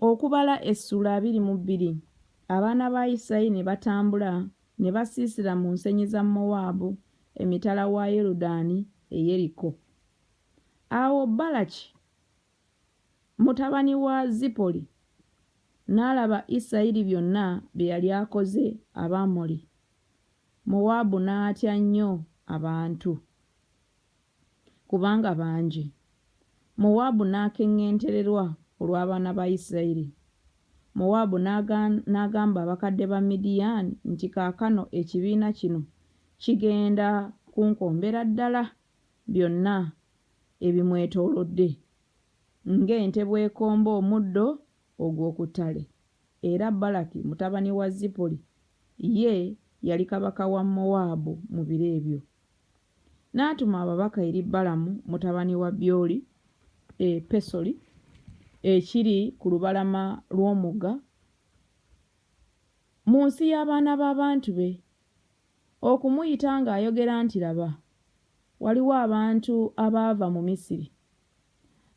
Okubala essula abiri mu bbiri abaana ba Isirayiri ne batambula ne basiisira mu nsenyi za Mowaabu emitala wa Yorudaani e Yeriko. Awo Balaki mutabani wa Zipoli n'alaba Isirayiri byonna bye yali akoze Abamoli, Mowaabu n'atya nnyo abantu. kubanga bangi. Mowaabu n'akeŋŋentererwa olw'abaana ba Isirayiri. Mowaabu n'agamba abakadde ba Midiyaani nti, Kaakano ekibiina kino kigenda kunkombera ddala byonna ebimwetoolodde, ng'ente bw'ekomba omuddo ogw'oku ttale. Era Balaki mutabani wa Zipoli ye yali kabaka wa Mowaabu mu biro ebyo. N'atuma ababaka eri Balamu mutabani wa Byoli e Pesoli ekiri ku lubalama lw'omugga mu nsi y'abaana b'abantu be, okumuyita ng'ayogera nti, Laba, waliwo abantu abaava mu Misiri,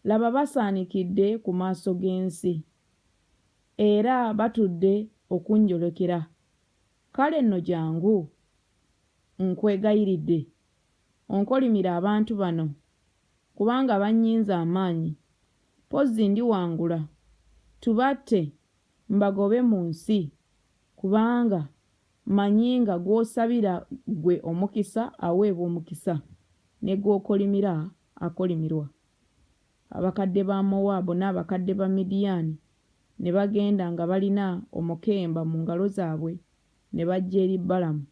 laba basaanikidde ku maaso g'ensi, era batudde okunjolekera, Kale nno jangu, nkwegayiridde, onkolimire abantu bano, kubanga bannyinze amaanyi. Mpozzi ndiwangula, tubatte, mbagobe mu nsi, kubanga mmanyi nga gw'osabira ggwe omukisa aweebwa omukisa, ne gw'okolimira akolimirwa. Abakadde ba Mowaabu n'abakadde ba Midiyaani ne bagenda nga balina omukemba mu ngalo zaabwe ne bajja eri Balamu.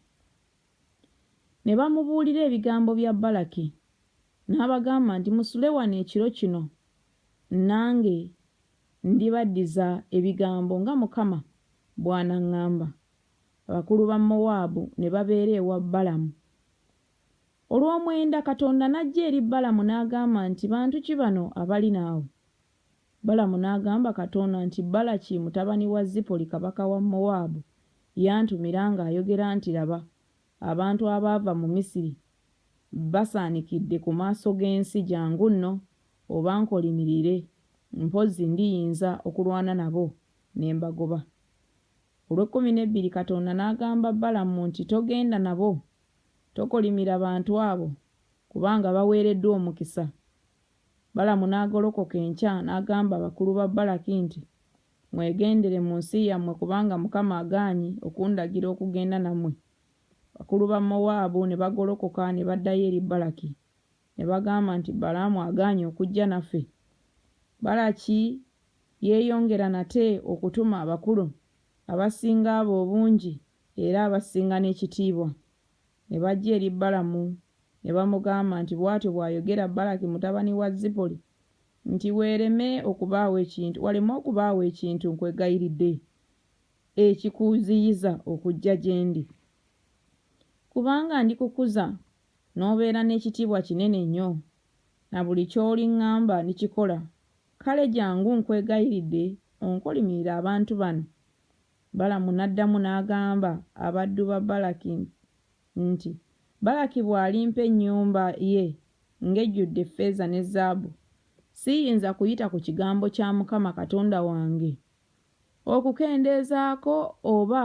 Ne bamubuulira ebigambo bya Balaki, n'abagamba nti, Musule wano ekiro kino, nange ndibaddiza ebigambo nga Mukama bw'anaŋŋamba. Abakulu ba Mowaabu ne babeera ewa Balamu, Olw'omwenda Katonda n'ajja eri Balamu n'agamba nti, Bantu ki bano abali naawe? Balamu n'agamba Katonda nti, Balaki mutabani wa Zipoli kabaka wa Mowaabu yantumira ng'ayogera nti, Laba, abantu abaava mu Misiri basaanikidde ku maaso g'ensi, jangu nno obankolimirire, mpozzi ndiyinza okulwana nabo ne mbagoba. Olw'ekkumi n'ebbiri Katonda n'agamba Balamu nti, Togenda nabo, Tokolimira bantu abo kubanga baweereddwa omukisa. Balamu n'agolokoka enkya n'agamba bakulu ba Balaki nti, Mwegendere mu nsi yammwe kubanga Mukama agaanyi okundagira okugenda nammwe. Abakulu ba Mowaabu ne bagolokoka ne baddayo eri Balaki, ne bagamba nti, Balaamu agaanyi okujja naffe. Balaki yeeyongera nate okutuma abakulu abasinga abo obungi Era abasinga n'ekitiibwa ne bajja eri Balamu ne bamugamba nti, Bw'atyo bw'ayogera Balaki mutabani wa Zipoli nti, Weereme okubaawo ekintu, waleme okubaawo ekintu, nkwegayiridde, ekikuziyiza okujja gye ndi, kubanga ndikukuza n'obeera n'ekitiibwa kinene nnyo, na buli ky'oliŋŋamba ndikikola. Kale jjangu, nkwegayiridde, onkolimirire abantu bano, Balamu n'addamu n'agamba abaddu ba Balaki nti, Balaki bw'alimpa ennyumba ye ng'ejjudde ffeeza ne zaabu, siyinza kuyita ku kigambo kya Mukama Katonda wange okukendeezaako oba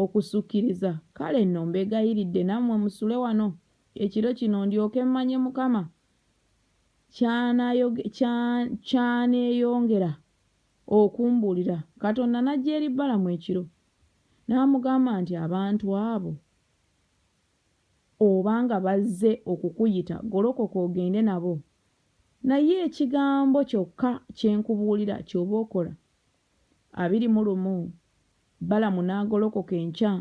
okusukiriza? Kale nno mbeegayiridde nammwe musule wano ekiro kino ndyoke mmanye Mukama ky'aneeyongera okumbuulira, Katonda n'ajja eri Balamu ekiro, n'amugamba nti, Abantu abo oba nga bazze okukuyita, golokoka ogende nabo, naye ekigambo kyokka kye nkubuulira ky'oba okola. Abiri mu lumu Balamu n'agolokoka enkya,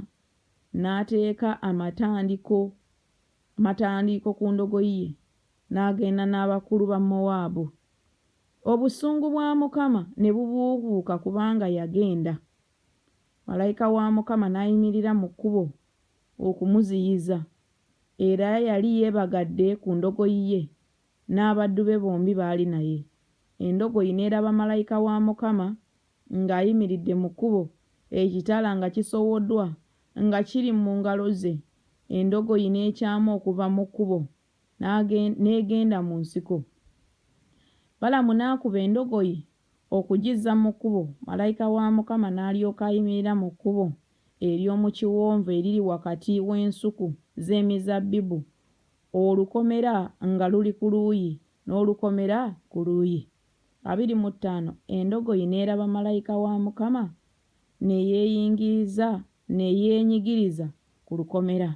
n'ateeka amatandiko amatandiiko ku ndogoyi ye, n'agenda n'abakulu ba Mowaabu. Obusungu bwa Mukama ne bubuubuuka kubanga yagenda, malayika wa Mukama n'ayimirira mu kkubo okumuziyiza, era yali yeebagadde ku ndogoyi ye, n'abaddu be bombi baali naye. Endogoyi n'eraba malayika wa Mukama ng'ayimiridde mu kkubo, ekitala nga kisowoddwa nga kiri mu ngalo ze, endogoyi n'ekyama okuva mu kkubo n'egenda mu nsiko. Balamu n'akuba endogoyi okugizza mu kkubo, malayika wa Mukama n'alyoka ayimirira mu kkubo ery'omu kiwonvu eriri wakati w'ensuku z'emizabbibu, olukomera nga luli ku luuyi, n'olukomera ku luuyi. Abiri mu ttaano Endogoyi n'eraba malayika wa Mukama, ne yeeyingiriza, ne yeenyigiriza ku lukomera.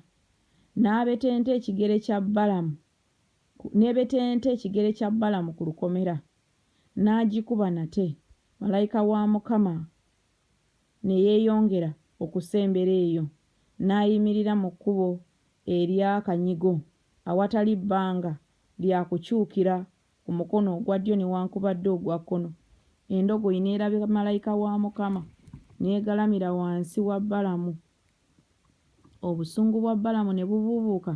N'abetenta ekigere kya Balamu, n'ebetenta ekigere kya Balamu ku lukomera, n'agikuba nate, Malayika wa Mukama ne yeeyongera okusembera eyo, n'ayimirira mu kkubo ery'akanyigo, awatali bbanga lya kukyukira ku mukono ogwa ddyo newankubadde ogwa kkono, endogoyi n'erabira Malayika wa Mukama, n'egalamira wansi wa Balamu. Obusungu bwa Balamu ne bubuubuuka,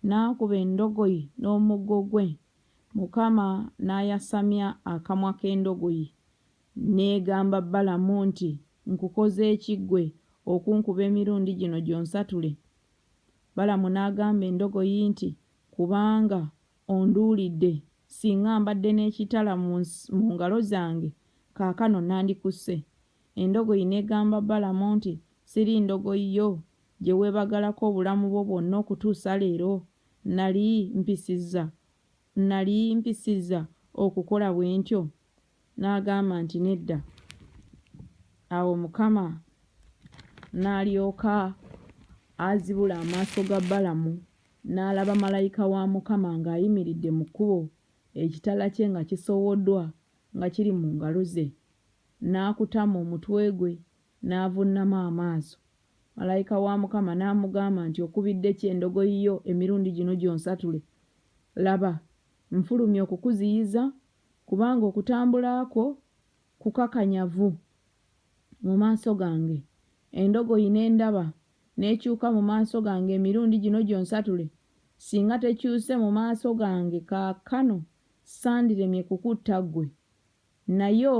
n'akuba endogoyi n'omuggo gwe, Mukama n'ayasamya akamwa k'endogoyi, n'egamba Balamu nti, Nkukoze ki ggwe okunkuba emirundi gino gyonsatule? Balamu n'agamba endogoyi nti, Kubanga onduulidde, singa mbadde n'ekitala mu ngalo zange, kaakano nandikusse. Endogoyi n'egamba Balamu nti, Siri ndogoyi yo, gye weebagalako obulamu bwo bwonna okutuusa leero? Nnali mpisizza, nnali mpisizza okukola bwe ntyo? N'agamba nti, Nedda. Awo Mukama n'alyoka azibula amaaso ga Balamu, n'alaba malayika wa Mukama ng'ayimiridde mu kkubo, ekitala kye nga kisowoddwa nga kiri mu ngalo ze. N'akutama omutwe gwe, n'avunnama amaaso. Malayika wa Mukama n'amugamba nti, Okubidde ki endogoyi yo emirundi gino gyonsatule? Laba, nfulumye okukuziyiza, kubanga okutambula kwo kukakanyavu mu maaso gange. Endogoyi ne ndaba n'ekyuka mu maaso gange emirundi gino gyonsatule, singa tekyuse mu maaso gange kaakano, sandiremye kukutta ggwe. Nayo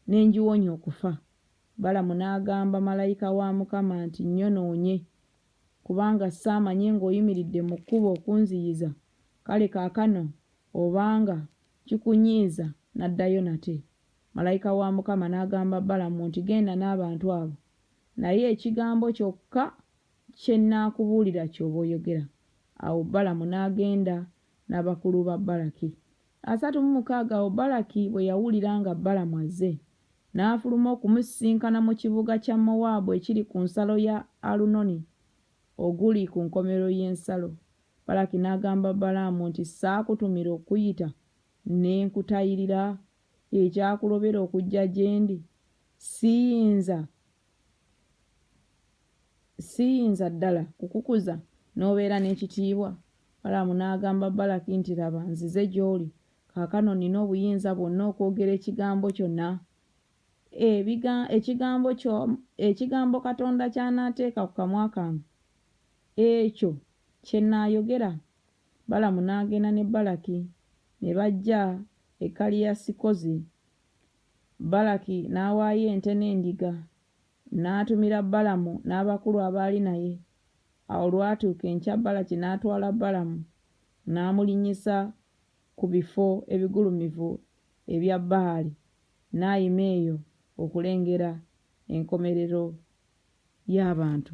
ne ngiwonya okufa. Balamu n'agamba malayika wa Mukama nti, Nnyonoonye, kubanga ssaamanye ng'oyimiridde mu kkubo okunziyiza, kale kaakano obanga kikunyiiza naddayo nate. Malayika wa Mukama n'agamba Balamu nti, Genda n'abantu abo, naye ekigambo kyokka kye nnaakubuulira ky'oba oyogera. Awo Balamu n'agenda n'abakulu ba Balaki. Asatu mu mukaaga Awo Balaki bwe yawulira nga Balamu azze, n'afuluma okumusisinkana mu kibuga kya Mowaabu ekiri ku nsalo ya Alunoni, oguli ku nkomerero y'ensalo. Balaki n'agamba Balaamu nti, Saakutumira okukuyita ne nkutayirira? Ekyakulobera okujja gye ndi, siyinza siyinza ddala kukukuza n'obeera n'ekitiibwa? Balaamu n'agamba Balaki nti, Laba, nzize gy'oli. Kaakano nnina obuyinza bwonna okwogera ekigambo kyonna ekigambo kyo ekigambo Katonda ky'anaateeka ku kamwa kange, ekyo kye nnaayogera. Balaamu n'agenda ne Balaki ne bajja e Kaliyasikozi Balaki n'awaayo ente n'endiga, n'atumira Balamu n'abakulu abaali naye. Awo olwatuuka enkya Balaki n'atwala Balamu n'amulinnyisa ku bifo ebigulumivu ebya Baali, n'ayima eyo okulengera enkomerero y'abantu.